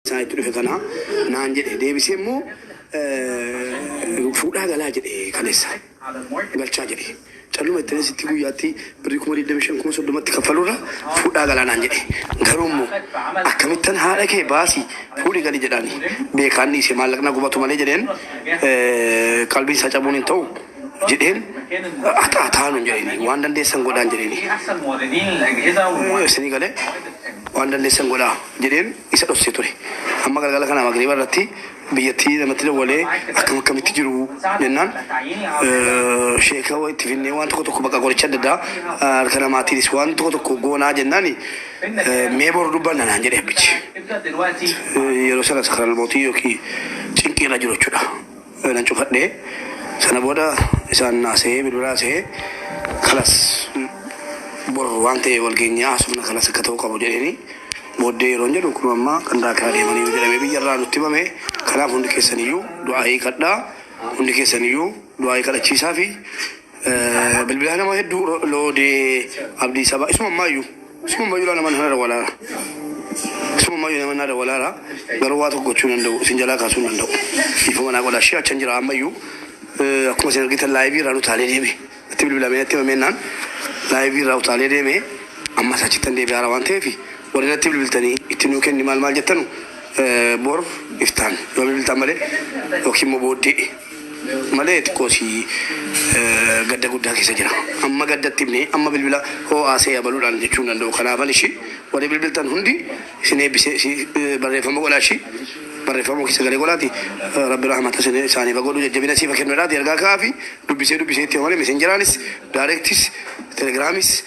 isaa itti dhufe kana naan jedhe deebisee immoo fuudhaa galaa jedhe kaleessa galchaa jedhe calluma itti sitti guyyaatti birrii kuma digdami shan kuma soddomatti kaffalurra fuudhaa galaa naan jedhe garuu immoo akkamittan haadha kee baasi fuudhi gali jedhaani beekaanni ishee maallaqna gubatu malee jedheen qalbii isaa cabuun hin ta'u. jedheen haxaa taanuun jedheen waan dandeessan godhaan jedheen isinii galee waan dandeessan godhaa jedheen isa dhossee ture. Amma galgala kana magriiba irratti biyyattii namatti dawwalee akkam akkamitti jiru jennaan sheeka itti finnee waan tokko tokko bakka qoricha adda addaa harka namaatiinis waan tokko tokko goonaa jennaan mee boru dubbanna naan jedhe abbichi. Yeroo sanas karaa mootii yookiin cinqii irra jiru jechuudha. nan cufadhe sana booda isaan haasa'ee bilbila haasa'ee kalas bor waan ta'e wal geenyee haasofna kalas akka ta'uu qabu jedheeni booddee yeroon jedhu kun amma qandaa kee adeemaniiru jedhamee biyya irraa nutti himame kanaaf hundi keessaniyyuu du'aa hiikadhaa hundi keessaniyyuu du'aa hiikadhachiisaa fi Bilbilaa nama hedduu loodee abdii sabaa isuma ammaayyu isuma ammaayyu laa nama nana dawalaara isuma ammaayyu nama nana dawalaara garuu waa tokko gochuu hin danda'u isin jalaa kaasuu hin danda'u dhiifama naa godhaa ishee achan jira ammayyu akkuma isin argitan laayivii irraa utaalee deeme itti bilbilamee natti himamennaan laayivii irraa utaalee deeme ammas achittan deebi'aara waan ta'eef warri natti bilbiltanii itti nuu kenni maal maal jettanu bor iftaan yoo bilbiltan malee yookiin immoo booddee malee xiqqoo si gadda guddaa keessa jira. Amma gadda itti himne amma bilbila hoo haasa'e abaluudhaan jechuu hin danda'u. Kanaafan ishii warri bilbiltan hundi isin eebbisee si barreeffama godhaa ishii barreeffama keessa galee godhaati rabbi rahmata isin isaaniif haa godhu jajjabina siif haa kennu jedhaati ergaa ka'aafi dubbisee dubbisee itti hima malee mesenjeraanis daareektis telegiraamis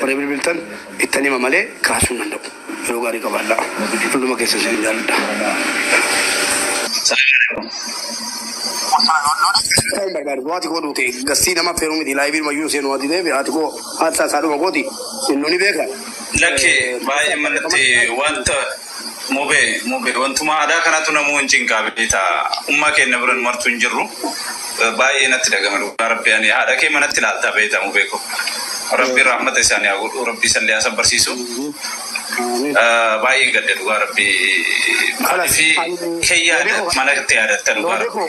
Warri bilbiltan ittan hima malee kaasuu hin danda'u. Yeroo gaarii qabaadhaa. Hunduma keessan isinin jaalladha. Assalamualaikum Osoo lola keessa ta'uu hin barbaadu yoo ati koo duute gassii nama affeeruu miti laayivii dhuma iyyuu seenuu ati ta'eef ati koo haadsaa isaa dhuma kooti inni ni beeka. Lakki baay'ee manatti wanta Mube mube wantumaa adaa kanatu namuu hin cinqaa beektaa ummaa keenna biran martuu hin jirru baay'ee natti dhagama dhugaa rabbi ani haadha kee manatti laaltaa beektaa mubee ko rabbi rahmata isaani haa godhu rabbi isallee haa sabbarsiisu baay'een gadde dhugaa rabbi maalifi kee yaada mana itti yaadatta dhugaa rabbi.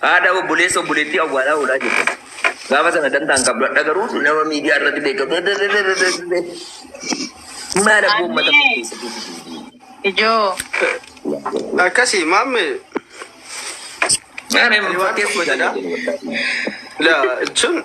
Haadha obboleessa obboleettii awwaalaa oolaa jirtan. Gaafa sana dantaa hin qabdu. Hadha garuu nama miidiyaa irratti beekamu. Maal abboo uummata Ammee. kana keessa jirtu? Ijoo. Akkasii maamme Maal ani waan tokko jedha. fakkeessi? La jechuun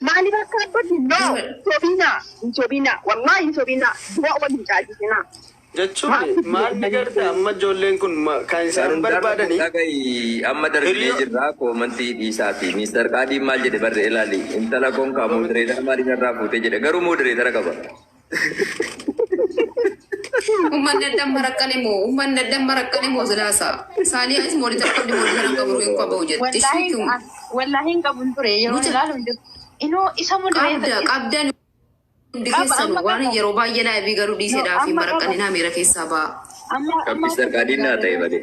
Maaliif akka abbatti no sobina hin sobina wallahi hin sobina du'a wal hin caalchisinaa. Jechuun maal ni garta amma ijoolleen kun kan isaan barbaadani. Dhagayi amma darbinee jirra koomantii dhiisaafi Mister Qaadiin maal jedhe barre ilaali intala konkaa modereetara maaliif narraa fuute jedhe garuu modereetara qaba. Ummanni addan maraqqane moo ummanni addan maraqqane moo silaasa saanii anis moonitar qabdi moonitar hin qabu hin qabu jetti Wallaahi shiituu ah, wallaahi hin qabun ture yeroo Mucha- ilaalu hin jiru. Inoo isa qabda mul'ifate. qabdan hundi Qaba, keessanu amma waan qaba. yeroo baay'ee laabii garuu dhiiseedhaa fi Amma qaba. maraqqaninaa miira keessaa ba'a. Amma amma Gabbisa qaadinaa ta'e malee.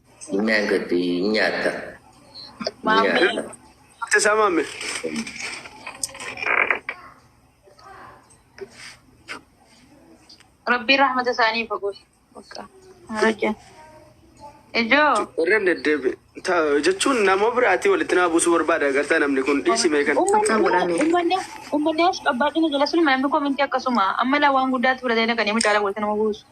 Nyaanni gadi nyaata. Maammee. Nyaata. Teessaa maamme. Rabbiin rahmata isaanii fagoo. Bakka. Rajjan. Ijoo. Irra deddeebi. Ta- Jechuun nama biraatii walitti naa buusuu barbaada agartaa namni kun dhiisimee kan. Akkaan godhaame. Ummanni ummanni as qabbaadina jala sun maammi kominti akkasuma amma laa waan guddaatti fudhatee dhaqanii mucaala walitti nama buusu.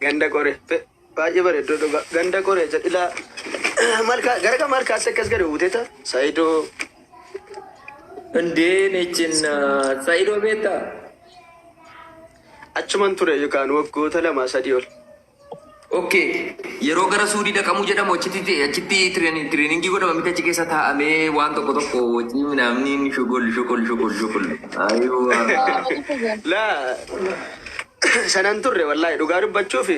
Ganda Qoree. Be, baay'ee bareedduu dhuga. Ganda Qoree jedha ilaa. Malkaa, gara kan malkaatti akkas gadi buuteta. Saayidoo. Indee nechin saidoo beektaa? Achuman ture yookaan waggoota lama sadii ol. Okkee yeroo gara suudii dhaqamuu jedhamu achitti achitti tireeningii godhama miti achi keessa taa'amee waan tokko tokko wajjin minaamni shugul shugul shugul shugul. Ayuu. Laa. sanan turre wallahi dhugaa dubbachuuf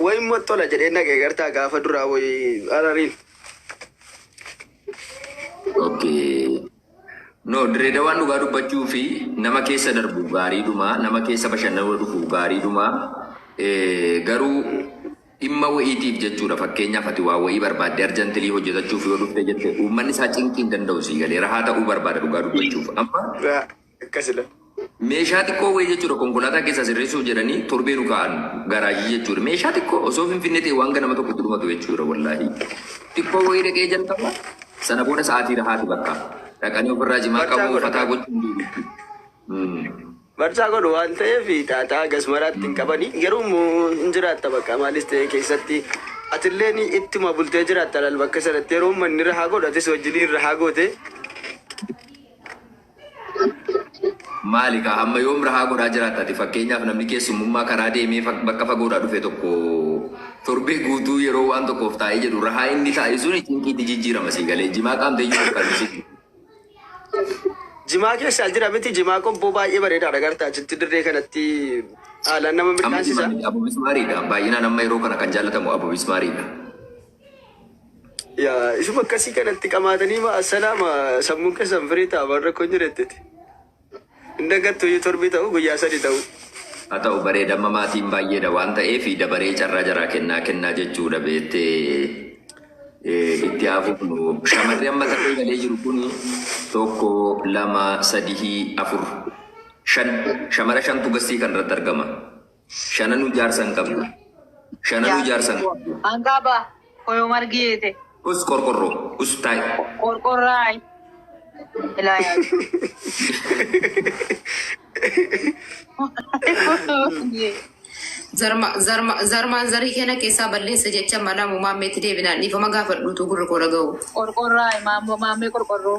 wayin mottola jedhee nagee gartaa gaafa duraa wayi arariin. Okay. No, direedawaan dhugaa dubbachuu fi nama keessa darbu gaariidhuma, nama keessa bashannanuu dhufu gaariidhuma. Eh, garuu dhimma wa'iitiif jechuudha. Fakkeenyaaf ati waa wa'ii barbaadde arjantilii hojjetachuuf yoo dhufte jette uummanni isaa cinqii hin danda'u sii galee rahaa ta'uu barbaada dhugaa dubbachuuf. Amma Raa- Akka sila. Meeshaa xiqqoo wayii jechuudha konkolaataa keessaa sirreessuuf jedhanii torbee nu kaa'an garaajii jechuudha. Meeshaa xiqqoo osoo finfinnee ta'e waan ganama tokko itti dhumatu jechuudha wallaahi. Xiqqoo wayii dhaqee jalqaba sana booda sa'aatii rahaati bakka dhaqanii ofirraa cimaa Barchaa qabu godha. fataa gochuun deebiitti. Barchaa godhu waan ta'eef xaaxaa gasmaraatti hin qabani. Garuu immoo hin jiraatta bakka maalis ta'e keessatti. Atilleen ittuma bultee jiraatta laal bakka sanatti yeroo manni rahaa godhu atis wajjiniin rahaa goote. Maali kaa hamma yoom rahaa godhaa jiraatta ati fakkeenyaaf namni keessummummaa karaa deemee fag bakka fagoodhaa dhufe tokko torbee guutuu yeroo waan tokkoof taa'ee jedhu rahaa inni taa'e suni cinqiitti jijjiirama sii galee jimaa qaamteeyyuu fakkaatu si Jimaa keessaa jira miti jimaa qobboo baay'ee bareedaa dhagarta achitti dirree kanatti haalaan nama amma jimaa midhaansisa. miti abu bismaariidha baay'inaan amma yeroo kana kan jaallatamu abu bismaariidha Yaa isuma akkasii kanatti qamaatanii ma assalaama sammuun keessan firii ta'a waan rakkoon jirettiti. Hin dagattu iyyuu torbii ta'u guyyaa sadi ta'u. Haa ta'u bareedamma maatiin baay'eedha waan ta'eef dabaree carraa jaraa kennaa kennaa jechuudha beettee eh, itti haa fufnu. Shamarri amma tarree galee jiru kun tokko lama sadihii afur shan shamara shantu gassii kan irratti argama. Shananuu jaarsa hin qabdu. Shananuu jaarsa hin qabdu. Hangaa baa koyoo margi yeete. Us qorqorroo. Us taa'i. Qorqorraay. Ilaa yaadu. Zarma, zarma, zarmaan zarii keena keessaa balleessa jecha mala mumaammeetti deebinaan dhiifama gaafadhuutu gurri koo dhaga'u. Qorqorraay maammoo maammee qorqorroo.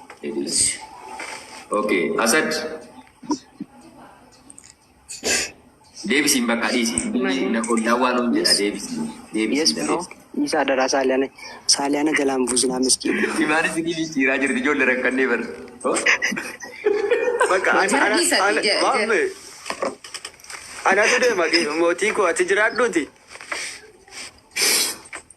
Idilsi. Okay, Asad. Deebisiin bakka dhiisi. Ollaa waan hin jedha deebisi. Yes bro. Isa adaraa saaliyaana saaliyaana jalaan buusinaa miskiin. Imaan isin jijjiiraa jirti ijoollee rakkannee bar. Bakka ana Jara dhiisa, ana jara- jara- maame anatu deema mootii koo ati jiraadhuuti.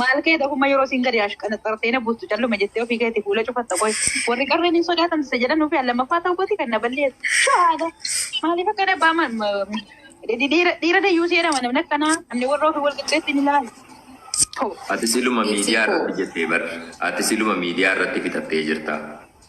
Maal kee dafuma yeroo siin gadi ashqanaxartee na buustu calluma jettee ofii keetii fuula cufatta qoy. Warri qarreen hin sodaatan isa jedhan ofii an lammaffaa ta'uu kooti kan na balleessu. Shahaada. Maaliif akka dhabbaa ma- ma- dhiira dhiira dayyuu si jedhama namni akkanaa namni warra ofii wal qixxeetti hin ilaalu. Too. Ati siluma miidiyaa irratti jettee bar. Ati siluma miidiyaa irratti fixattee jirta.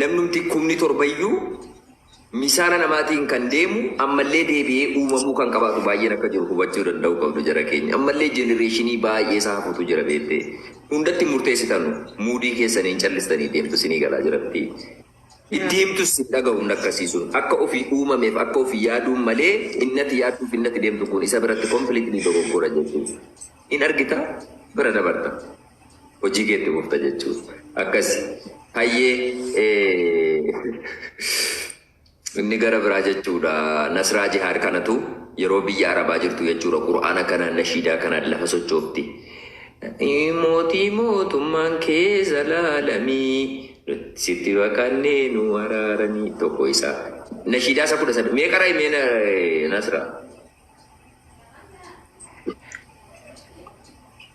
Namnumti kumni torbayyuu misaana namaatiin kan deemu ammallee deebi'ee uumamuu kan qabaatu baay'een akka jiru hubachuu danda'uu qabdu jara keenya. Ammallee jenereeshinii baay'ee isaa hafutu jira beettee. Hundatti murteessitanu muudii keessaniin callistanii deemtu sinii galaa jira miti. Deemtus sin dhaga'u hin akkasiisun. Akka ofii uumameef akka ofii yaaduun malee innati yaadduuf innati deemtu kun isa biratti completely dogoggora jechuudha. Hin argita bira dabarta. Hojii kee itti fufta jechuuf. Akkasi. Hayyee inni gara biraa jechuudha. Nasraa jihaad kanatu yeroo biyya arabaa jirtu jechuudha. Qur'aana kana nashiidaa kana lafa sochoofti. Mootii mootummaan kee zalaalamii sitti baqannee nu araaranii tokko isaa. Nashiidaa isa kudha sadii. Mee qaraa mee nasraa.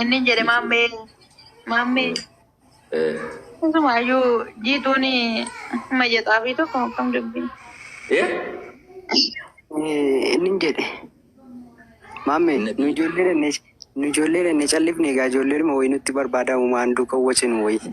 Inni jedhe maammee maammee isumaayyuu jiituun mayya xaafii tokko akkam dubbii. Inni jedhe maammee nu ijoollee dhannee nu ijoollee dhannee callifne egaa ijoollee dhuma wayii nutti barbaadamu maan duuka wacinu wayii.